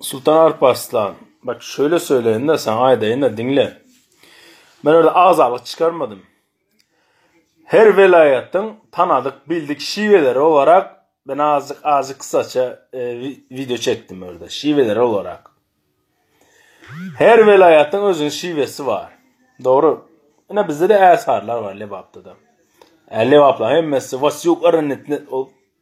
Sultan Alp Arslan, bak şöyle söyleyin-de, sana aýdaýyn-da, diňle. Men öyle agzalyk çykarmadym. Her welaýatyň tanadyk, bildik şiweleri olarak ben azıcık azıcık kısaça e, video çekdim orada. Şiweleri olarak. Her welaýatyň özüniň şiwesi bar. Dogry. Ine bizde de ärsarlar bar Lebapda da. Äli Lebaplar hemmesi Vasyuk Aranetni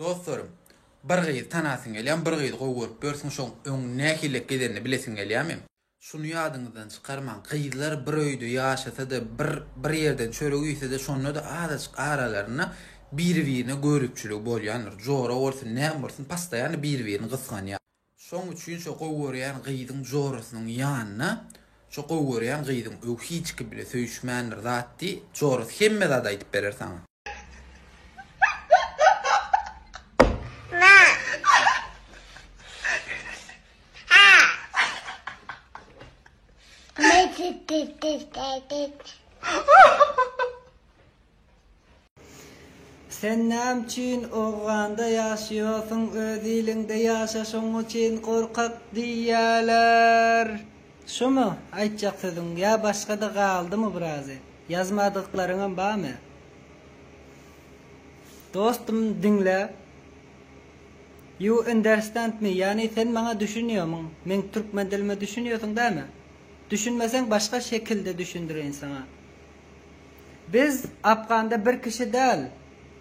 Dostlarym, bir gyzy tanasyň gelýämi, bir gyzy gowy görüp ýörsüň, şoň öň nähiliräk gezenini bilesiň gelýämi? Şuny ýadyňyzdan çykarmaň, gyzlar bir öýde ýaşasa-da, bir bir ýerden çörek iýse-de, şonda-da azajyk aralarynda biri-birine göripçiligi bolýandyr. Jora bolsun, näme bolsun, postoýanno biri-birini gysganýar. Şoň üçin şo gowy görýän gyzyň jorasynyň ýanyna şo gowy görýän gyzyň öw hiç kim bile söýüşmändir zat diý, jorasy hemme zady aýdyp berer saňa. Sen näme üçin owganda ýaşaýarsyň öz iliňde ýaşa şoň üçin gorkak diýýäler. Şumy aýtjak sözüň ýa başgada galdymy birazy ýazmadyklaryňam bamy. Dostum diňle You understand me ýagny sen maňa düşünýärmiň meň türkmen dilime düşünýärsiň dämi? Düşünmeseň başga şekilde düşündireýin saňa. Biz Afganda bir kişi däl,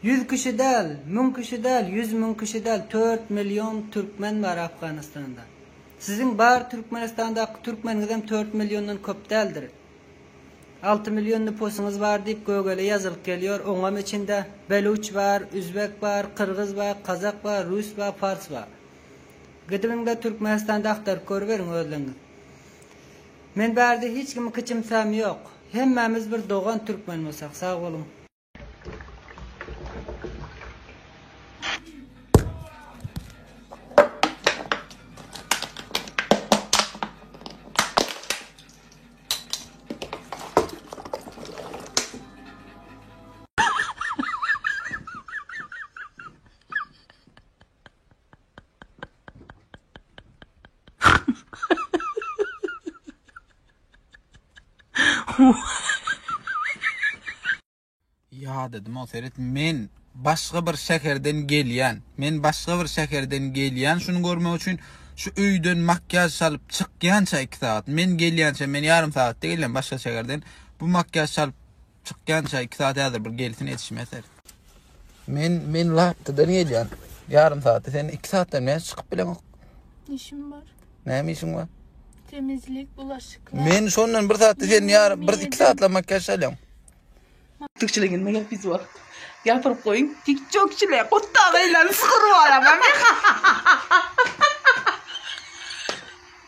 ýüz kişi däl, müň kişi däl, ýüz müň kişi däl, tört million türkmen bar Afganistanda. Siziň bar Türkmenistandaky türkmeniňizem tört milliondan köp däldir. Alty million nupusyňyz bar diýip gögele ýazylyp gelýär, oňam içinde beluç bar, üzbek bar, kyrgyz bar, kazak bar, rus bar, pars bar. Gidip indi Türkmenistanda agtaryp görüberiň özleriňiz. Men barde hiç kimi kyçymsam yok. Hemmamiz bir dogan türkmen bolsak. Sag boluň. Ýadadym o seret men başga bir şäherden gelýän. Men başga bir şäherden gelýän şuny görmek üçin şu öýden makýaž çalyp çykýança iki sagat. Men gelýänçä men ýarym sagatda gelýän başga şäherden. Bu makýaž çalyp Çykýança iki saat häzir bir gelsin etişmeser. Men men laptydan gelýän. Ýarym saatda sen iki saatdan näçe çykyp bileňok? Işim bar. Näme işiň bar? Temizlik, bulaşyklar. Men şondan bir saatda sen ýar bir iki saatla makyaj alýaň. Tikçiligin mi gelip biz bor. Ýapyryp goýuň. Tikçokçile gutda beýlen sygyr bar ama.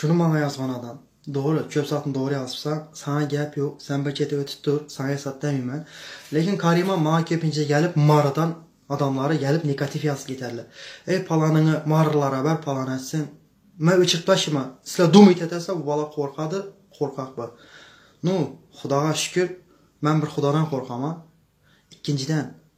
Şuny maňa ýazgan adam. Dogry, çöp zatny dogry ýazypsaň, saňa gäp ýok, sen bir çete ötüp dur, saňa hesap bermeýmen. Lekin Karima maňa köpinje gelip Marydan adamlary gelip negatiw ýazyp giderler. Eý palanyňy marylara ber palany etsin. Men öçürip taşyman. Sizler dumyt etersiňiz bu bala korkadyr, korkak bir. Nu, hudaga şükür, men bir hudadan korkaman. Ikinjiden,